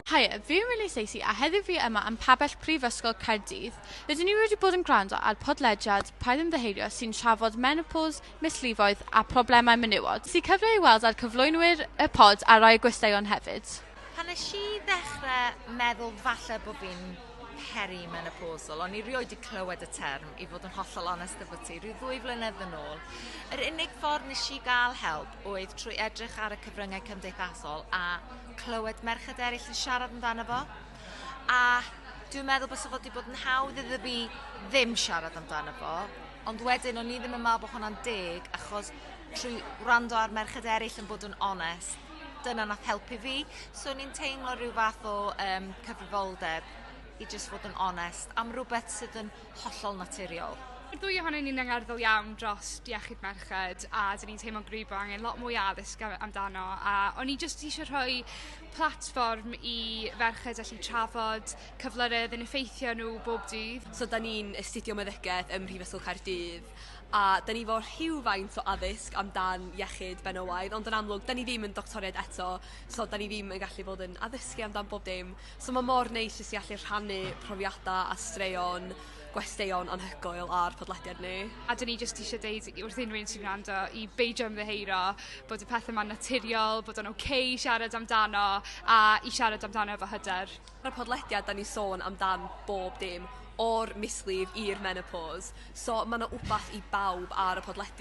Haia, fi yw Millie Stacey a heddiw fi yma yn Pabell Prifysgol Caerdydd. Rydyn ni wedi bod yn gwrando ar podlediad Paid Ymddiheurio sy'n trafod menopos, misliffoedd a phroblemau menywod. Ges i cyfle i weld ar cyflwynwyr y pod a rai o gwesteion hefyd. Pan nes i ddechrau meddwl falle bod fi'n perimenopausal, o'n i rioed wedi clywed y term i fod yn hollol onest efo ti, rhyw ddwy flynedd yn ôl, yr unig ffordd nes i gael help oedd trwy edrych ar y cyfryngau cymdeithasol a clywed merched eraill yn siarad amdano fo. A dwi'n meddwl bod fod wedi bod yn hawdd iddo fi ddim siarad amdano fo, ond wedyn o'n i ddim yn meddwl bod hwnna'n deg achos trwy wrando ar merched eraill yn bod yn onest, dyna nath helpu fi. So o'n i'n teimlo rhyw fath o um, cyfrifoldeb i jyst fod yn onest am rhywbeth sydd yn hollol naturiol. Mae'r ddwy ohonyn ni'n angerddol iawn drost iechyd merched a 'dyn ni'n teimlo'n gryf bo' angen lot mwy o addysg a- amdano a o'n i jyst isio rhoi platfform i ferched allu trafod cyflyre o'dd yn effeithio nw bob dydd. So 'dan ni'n astudio meddygeth ym Mhrifysgol Caerdydd a 'dan ni 'fo rhywfaint o addysg amdan iechyd benywaidd ond yn amlwg 'dan ni ddim yn doctoriaid eto so 'dan ni ddim yn gallu bod yn addysgu amdan bob dim So ma' mor neis jyst i allu rhannu profiada a straeon gwesteion anhygoel ar podlediad ni. A 'dyn ni jyst isio deud i wrth unrhyw un sy'n gwrando i beidio ymddiheuro bod y pethe 'ma'n naturiol bod o'n oce i siarad amdano a i siarad amdano efo hyder. Ar y podlediad 'dan ni sôn amdan bob dim o'r mislif i'r menopos so ma' 'na wbath i bawb ar y podlediad.